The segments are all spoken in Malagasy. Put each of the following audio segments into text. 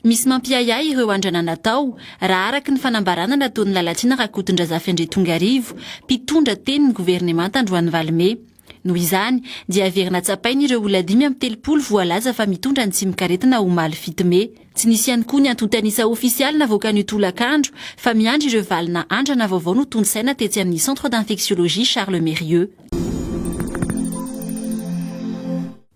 Misy mampiahiahy ireo andrana natao, raha araka ny fanambarana nataon'i Lalatiana Rakotondrazafy Andriatongarivo, mpitondra tenin'ny governemanta androany Valime. Noho izany, dia heverina tsapaina ireo olona dimy amby telopolo voalaza fa mitondra ny tsimokaretina omaly fito mey. Tsy nisy ihany koa ny antontan'isa ofisialy navoakan'io tolakandro fa miandry ireo valina andrana vaovao notontosaina tetsy amin'ny Centre d'Infectiologie Charles Mérieux.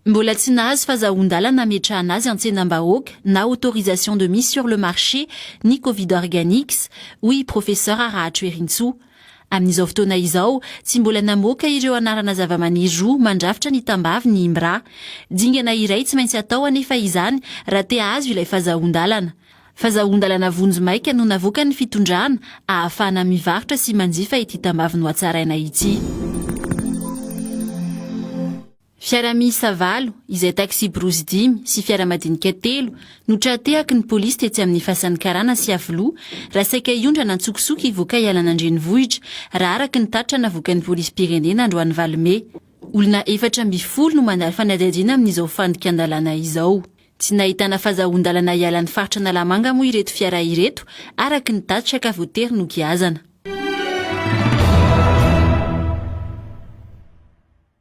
Mbola tsy nahazo fazahoan-dalana hametrahana azy an-tsenam-bahoaka na autorisation de mise sur le marché ny Covid Organics, hoy i Professeur Raharahatrerintsoa. Amin'izao fotoana izao, tsy mbola namoaka ireo anarana zavamaniry roa mandrafitra ny tambavy ny IMRA. Dingana iray tsy maintsy atao anefa izany raha te hahazo ilay fazahoan-dalana. Fazahoan-dalana vonjimaika no navoakan'ny fitondrana ahafahana mivarotra sy manjifa ity tambavy nohatsaraina ity. Fiara miisa valo, izay taxi-brousse dimy sy fiara madinika telo no tra-tehaky ny polisy tetsy amin'ny fasan'ny karana sy Iavoloha raha saika hiondrana an-tsokosoko hivoaka hialana an-drenivohitra, raha araka ny tatitra navoakan'ny polisim-pirenena androany valo mey. Olona efatra ambin'ny folo no mandalo fanadihadiana amin'izao fandikan-dalàna izao. Tsy nahitana fazahoan-dalana hiala ny faritra Analamanga moa ireto fiara ireto araka ny tatitra ka voatery nogiazana.